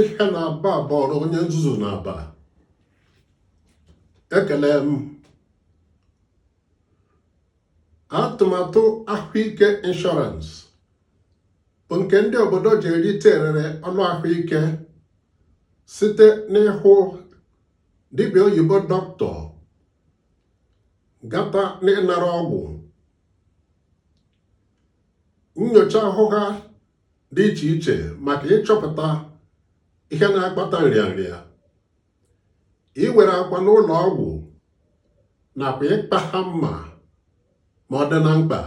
ihe na-aba bọrọ onye nzuzu na-aba ekele m atụmatụ ahụike inshọransị bụ nke ndị obodo ji erite erere ọlụ ahụike site n'ịhụ dibịa oyibo dọkịta gata n'ịnara ọgwụ nyocha ahụ ha dị iche iche maka ịchọpụta ihe na-akpata nrịanrịa iwere akwa n'ụlọ ọgwụ nakwa ịkpa ha mma ma ọ dị na mkpa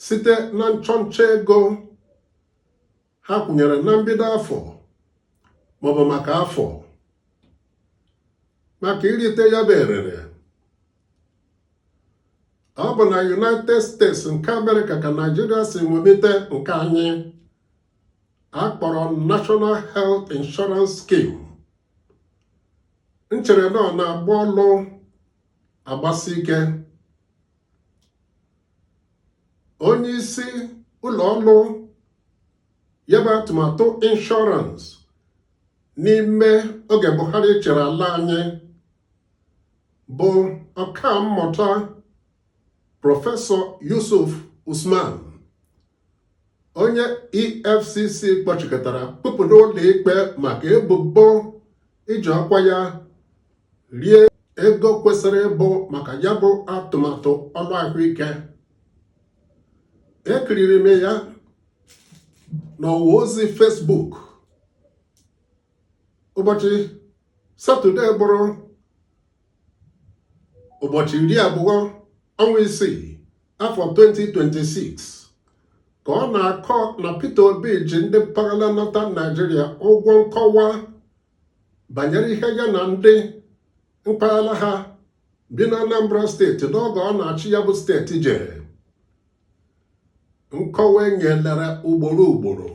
site na nchọnchọ ego ha kwụnyere na mbido afọ maọbụ maka afọ maka irite ya bụ erere ọ bụ na United States nke Amerịka ka Naijiria si ṅomite nke anyị a kpọrọ National Health Insurance Scheme m chere na ọ na-agba ọlụ agbasi ike onye isi ụlọ ọlụ ya bụ atụmatụ inshọransị n'ime oge Buhari chịrị ala anyị bụ ọkammụta prọfesọ Yusuf Usman onye EFCC kpọchikọtara kpụpụ n'ụlọ ikpe maka ebubo iji ọkwa ya rie ego kwesịrị ịbụ maka ya bụ atụmatụ ọlụ ahụike ekiriri m ya n'ọwa ozi Facebook ụbọchị satọde bụrụ ụbọchị iri abụọ ọnwa isii afọ 2026 ka ọ na-akọ na Peter Obi ji ndị mpaghara Northern Naijiria ụgwọ nkọwa banyere ihe ya na ndị mpaghara ha bi na Anambra steeti n'oge ọ na-achị ya bụ steeti jere nkọwa e nyelere ugboro ugboro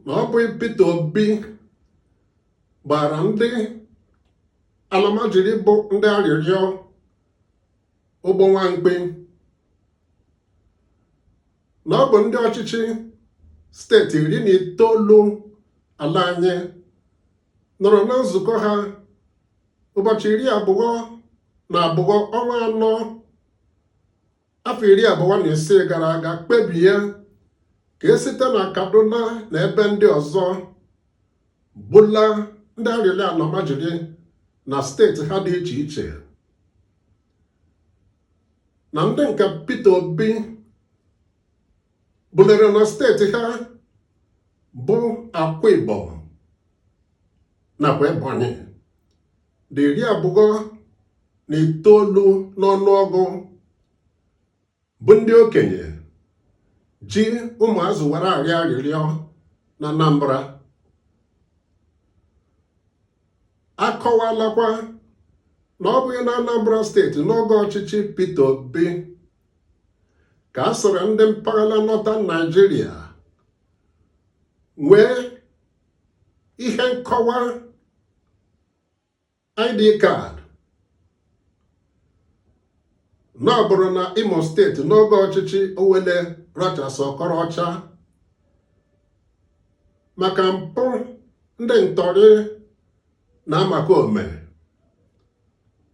na ọ bụ Peter Obi gbara ndị alamajiri bụ ndị arịrịọ ụgbọ nwamkpi na ọ bụ ndị ọchịchị steeti iri na itoolu ala anyị nọrọ na nzukọ ha ụbọchị iri abụọ na abụọ ọnwa anọ afọ iri abụọ na isii gara aga kpebie ka e site na Kaduna na ebe ndị ọzọ bula ndị arịrịọ almajiri na steeti ha dị iche iche na ndị nke Peter Obi bulere na steeti ha bụ Akwa Ibom nakwa Ebonyi dị iri abụọ na itoolu n'ọnụọgụ bụ ndị okenye ji ụmụazị were arịọ arịrịọ na Anambra akọwalakwa na ọ bụghị na Anambra steeti n'oge ọchịchị Peter Obi ka a sịrị ndị mpaghara Northern Nigeria nwee ihe nkọwa ID card na ọ bụrụ na Imo steeti n'oge ọchịchị Owelle Rochas Okorocha maka mpụ ndị ntọrị na omekome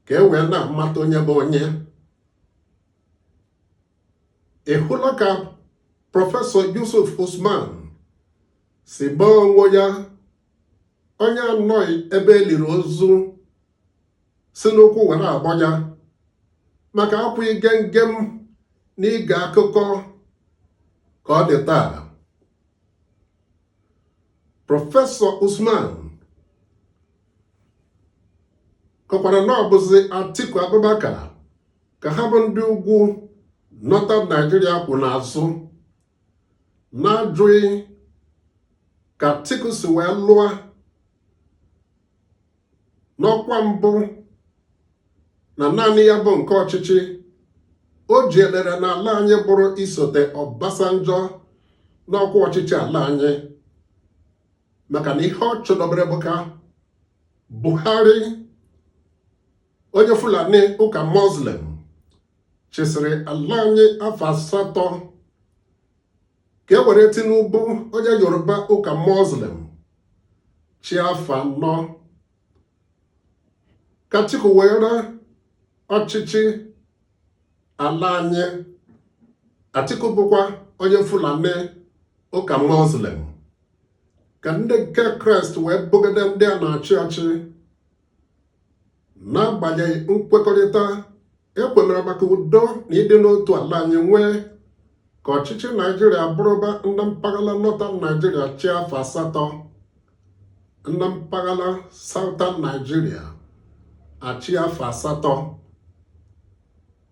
ka e wee na-amata onye bụ onye ị hụla ka prọfesọ Yusuf Usman si gbaa onwe ya onye anọghị ebe e liri ozu si n'ụkwụ were abọ ya maka akwụ ige nge m n'ige akụkọ ka ọ dị taa prọfesọ Usman kọkwara na ọ bụzi Atiku Abubakar ka ha bụ ndị ugwu Northern Nigeria kwụ n'azụ na-ajụghị ka Atiku si wee lụọ n'ọkwa mbụ na naanị ya bụ nke ọchịchị o ji elere n'ala anyị bụrụ isote Obasanjo n'ọkwa ọchịchị ala anyị maka na ihe ọ chọdobere bụ ka Buhari onye Fulani ụka Muslim chịsịrị ala anyị afọ asatọ ka e were Tinubu onye Yoruba ụka Muslim chịa afọ anọ ka Atiku were ọchịchị ala anyị Atiku bụkwa onye Fulani ụka Muslim ka ndị nke Kraịst wee bụgide ndị a na-achị ọchị n'agbanyeghị nkwekọrịta e kwemere maka udo na ịdị n'otu ala anyị nwee ka ọchịchị Nigeria bụrụba ndị mpaghara Northern Nigeria chịa afọ asatọ ndị mpaghara Southern Nigeria achịa afọ asatọ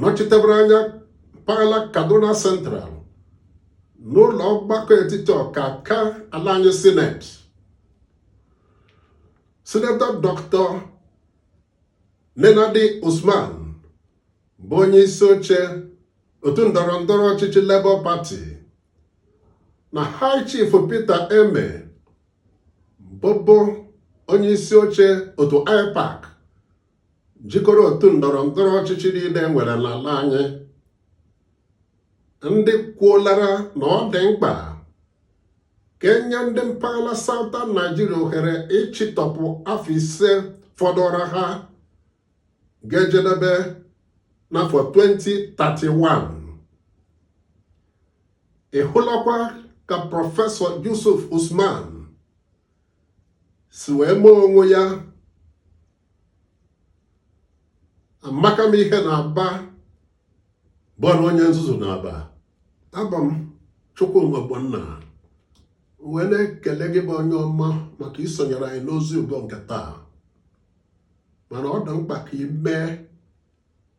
nọchitebere anya mpaghara kaduna central n'ụlọ ọgbakọ etiti ọkaka ala anyị sineti sinetọ dọkịta nenadi usman bụ onye isi oche otu ndọrọ ndọrọ ọchịchị Labour Party na High Chief Peter Ameh bụbu onye isi oche otu IPAC jikọrọ otu ndọrọ ndọrọ ọchịchị niile e nwere n'ala anyị ndị kwuolara na ọ dị mkpa ka e nye ndị mpaghara Southern Nigeria ohere ịchịtọpụ afọ ise fọdụrụ ha ga-ejedebe n'afọ 2031 ị hụlakwa ka prọfesọ Yusuf Usman si wee mee onwe ya amaka m ihe na Aba bụrụ onye nzuzu na Aba abụ m Chukwuma Ogbonna wee na-ekele gị bụ onye ọma maka isonyere anyị n'ozi ugo nke taa mana ọ dị mkpa ka ị mee